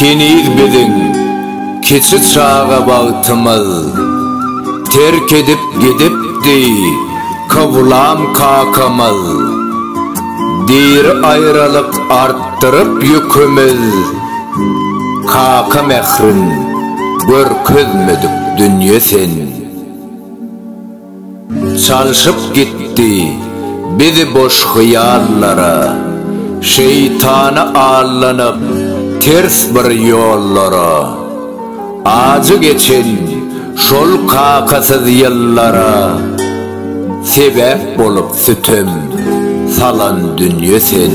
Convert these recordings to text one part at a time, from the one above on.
Heniz biziň kiçi çaga wagtymyz, Terk edip gidipdi Kowlam kakamyz. Diri aýralyk artdyryp ýükümiz, Kaka mährin görkezmedik dünýe sen. Çalşyp gitdi bizi boş hyýallara, Şeýtana allanyp ters bir ýollara. Ajy geçen şol kakasyz ýyllara, Sebäp bolup sütem salan dünýe sen.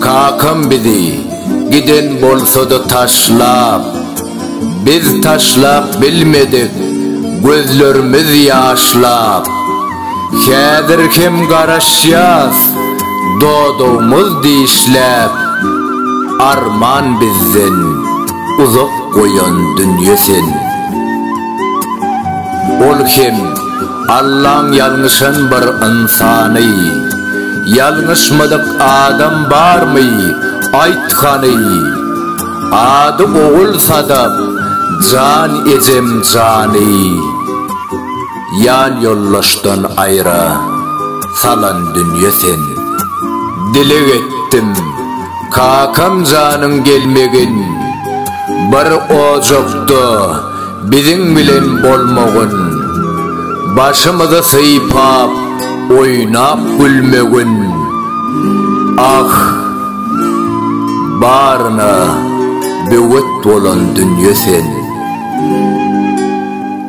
Kakam bizi giden bolsada taşlap Biz taşlap bilmedik gözlerimiz ýaşlap Häzir hem garaşýas dodagymyz dişläp Arman bizden uzak goýan dünýe sen Ol hem Allaň ýalňyşan bir ynsany. Ýalňyşmadyk adam barmy, aýt hany? Ady Ogul Sadap, jan ejem jany. Ýan ýoldaşdan aýra salan dünýe sen. Dileg etdim, kakam janyň gelmegin. Bir ojakda. biziň bilen bolmagyn, Başymyzy sypap, oýnap gülmegin. Ah, baryna böwet bolan dünýe sen.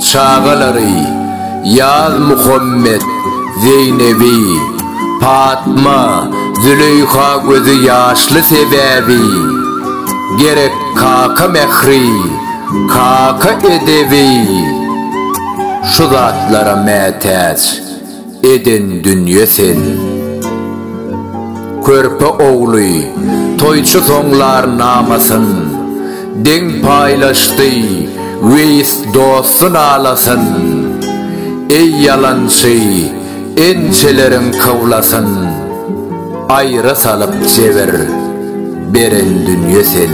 Çagalary, Ýaz Muhammet, Zeýnebi, Patma, Züleýha gözi ýaşly sebäbi, gerek, Kaka mähri, kaka edebi, Şu zatlara mätäç eden dünýe seni. Körpe ogly toýçy soňlar namasyn, Deň paýlaşdy Weýis dosty nalasyn. Eý ýalançy! Ençeleriň kywlasyn aýra salyp jebir beren dünýe sen.